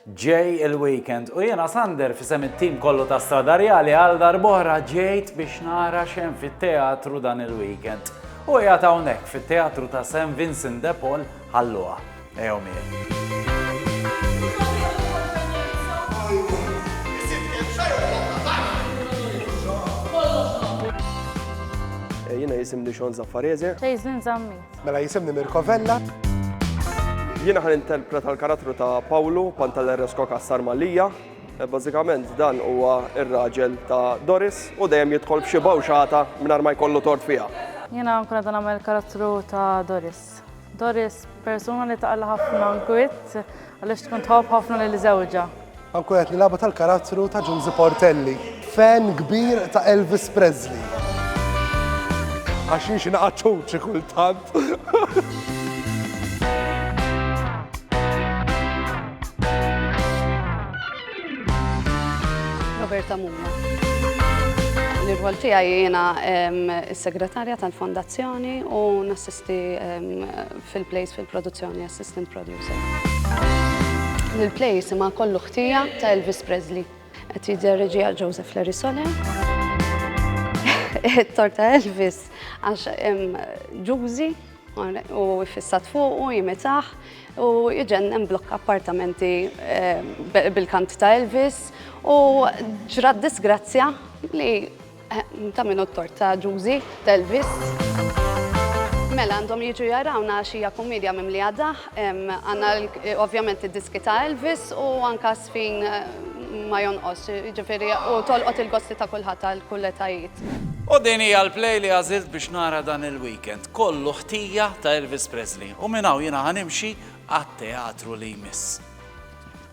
Ġej il-weekend u jiena Sander f'isem it-tim kollu ta' Stradarjali għal darb'oħra ġejt biex nara x'hemm fit-teatru dan il-weekend. U qiegħed hawnhekk fit-Teatru ta' St Vincent de Paul ħalluha. Ejjew miegħi. Jiena jisimni Shawn Zaffarese. Jason Zammit. Mela jisimni Mirko Vella. Jiena ħan interpreta l-karattru ta' Pawlu Pantalerresko Kassar Malija. E, bażikament dan huwa ir-raġel ta' Doris u dejjem jidħol b'xi bawxata mingħajr ma jkollu tort fiha. Jiena nkun qed nagħmel karattru ta' Doris. Doris persuna li taqla ħafna nkwitt Għaliex tkun tħobb ħafna lil żewġha? Anku qed nilagħbu tal-karattru ta' Ġużi Portelli, fan kbir ta' Elvis Presley. Għax jien xi naqgħad ċuċi kultant. Roberta Mumma. L-irwol tiegħi jiena s-segretarja tal-fondazzjoni u nassisti fil-place fil-produzzjoni assistant producer. L-place ma kollu ħtija ta' Elvis Presley. Qed jidher reġi għal Joseph Larry Sole. Torta Elvis għax ġużi u fissat fuq u jimitaħ u jġennem blokk appartamenti eh, bil-kant ta' Elvis u ġrat disgrazzja li Ta' min hu t-tort, ta' Ġużi, t'Elvis? Mela, għandhom jiġu jarawna għax hija kummedja mimlija daħq, għandna ovvjament id-diski ta' Elvis u anka żfin ma jonqos, jiġifieri u tolqot il-gosti ta' kulħadd għal kull etajiet. U din hija l-play li għażilt biex nara dan il-weekend, kollu ħtija ta' Elvis Presley. U minn hawn jiena ħa nimxi għat-teatru li jmiss.